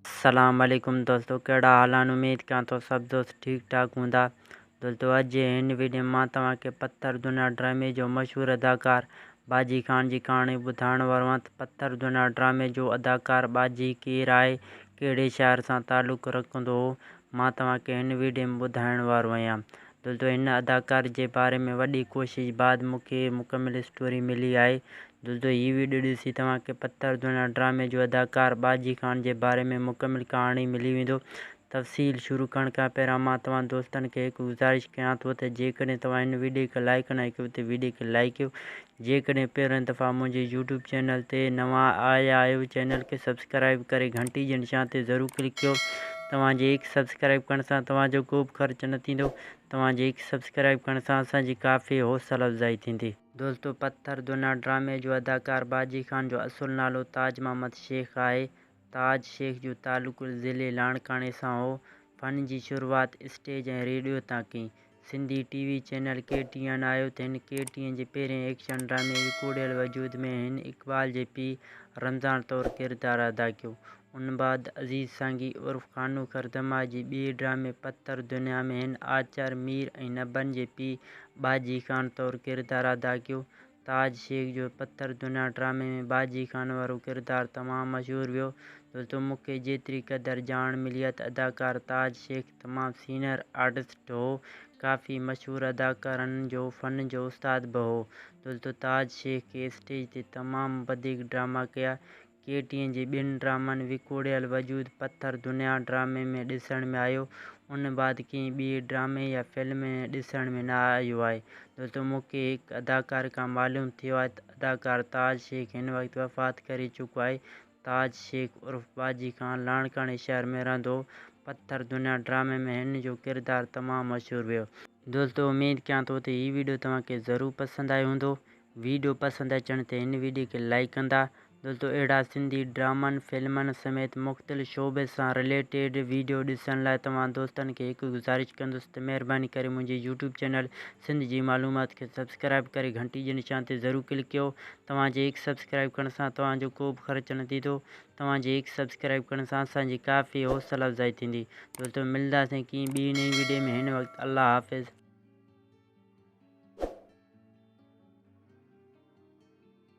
اسلام عليڪم دوستو ڪهڙا حال آهن اميد ڪيان ٿو سڀ دوست ٺيڪ ٺاڪ هوندا دوستو اڄ جي هن وڊيو مان توهان کي پٿر دنيا ڊرامي جو مشهور اداڪار باجي خان جي ڪهاڻي ٻڌائڻ وارو آهيان ته پٿر دنيا ڊرامي جو اداڪار باجي ڪير آهي ڪهڙي شهر سان تعلق رکندو هو مان توهان کي هن وڊيو ۾ ٻڌائڻ وارو آهيان دل دو هن اداڪار جي باري ۾ وڏي ڪوشش بعد مون کي مڪمل اسٽوري ملي آهي دل دو هي ويڊيو ڏسي توهان کي پٿر ڌوڻا ڊرامي جو اداڪار ٻاجهي خان جي باري ۾ مڪمل ڪهاڻي ملي ويندو تفصيل شروع ڪرڻ کان پهريان مان توهان دوستن کي هڪ گذارش ڪيان ٿو ته جيڪڏهن توهان هن ويڊيو کي لائڪ نه ڪيو ته ويڊيو کي لائڪ ڪيو جيڪڏهن پهرين دفعا منهنجي يوٽيوب چينل تي نوان آيا آهيو چينل کي سبسڪرائيب ڪري گهنٽي جي نشان تي ضرور ڪلڪ ڪيو توهان جي هڪ سبسڪرائيب ڪرڻ سان توهان جو ڪوبه خرچ نه ٿيندو توهان جي هڪ سبسڪرائيب ڪرڻ سان اسان جي ڪافي حوصله افزائي ٿيندي. دوستو پٿر دنيا ڊرامي جو اداڪار باجي خان جو اصل نالو تاج محمد شيخ آهي تاج شيخ جو تعلق ضلعي لاڙڪاڻي سان هو. فن جي شروعات اسٽيج ۽ ريڊيو تان ڪئي. Sindhi T V channel K T N آيو ته هن ڪي ٽي اين جي پهرين ايڪشن ڊرامي وڪوڙيل وجود ۾ هن اقبال جي پيء رمضان طور ڪردار ادا ڪيو. ان بعد عزيز سانگي عرف خانوخر دماء جي ٻئي ڊرامي پٿر دنيا ۾ هن آچر مير ۽ نبن جي پيء ٻاجهي خان طور ڪردار ادا ڪيو. تاج شيخ جو پٿر دنيا ڊرامي ۾ باجي خان وارو ڪردار تمام مشهور ويو. دوستو مون کي جيتري قدر ڄاڻ ملي آهي ته اداڪار تاج شيخ تمام سينئر آرٽسٽ هو. ڪافي مشهور اداڪارن جو فن جو استاد به هو. دوستو تاج شيخ کي اسٽيج تي تمام وڌيڪ ڊراما ڪيا ڪي ٽي اين جي ٻن ڊرامن وڪوڙيل وجود پٿر دنيا ڊرامي ۾ ڏسڻ ۾ آيو ان بعد ڪنهن ٻي ڊرامي يا فلم ۾ ڏسڻ ۾ نه آيو آهي دوستو مون کي هڪ اداڪار کان معلوم ٿيو آهي ته اداڪار تاج شيخ هن وقت وفات ڪري چڪو آهي تاج شيخ عرف باجي خان لاڙڪاڻي شهر ۾ رهندو هو پٿر دنيا ڊرامي ۾ هن جو ڪردار تمام مشهور ويو دوستو اميد ڪيان ٿو ته هي ويڊيو توهان کي ضرور پسند آيو هوندو ويڊيو پسند اچڻ تي هن ويڊيو کي لائيڪ ڪندا دوستو اهڙا سنڌي ڊرامن فلمن سميت مختلف شعبي سان رليٽيڊ ويڊيو ڏسڻ لاء توهان دوستن کي هڪ گذارش ڪندس ته مهرباني ڪري منهنجي يوٽيوب چينل سنڌ جي معلومات کي سبسڪرائيب ڪري گهنٽي جي نشان تي ضرور ڪلڪ ڪيو توهان جي هڪ سبسڪرائيب ڪرڻ سان توهان جو ڪو به خرچ نه ٿيندو توهان جي هڪ سبسڪرائيب ڪرڻ سان اسان جي ڪافي حوصلا افزائي ٿيندي دوستو ملداسين ڪنهن ٻي نئين ويڊيو ۾ هن وقت الله حافظ.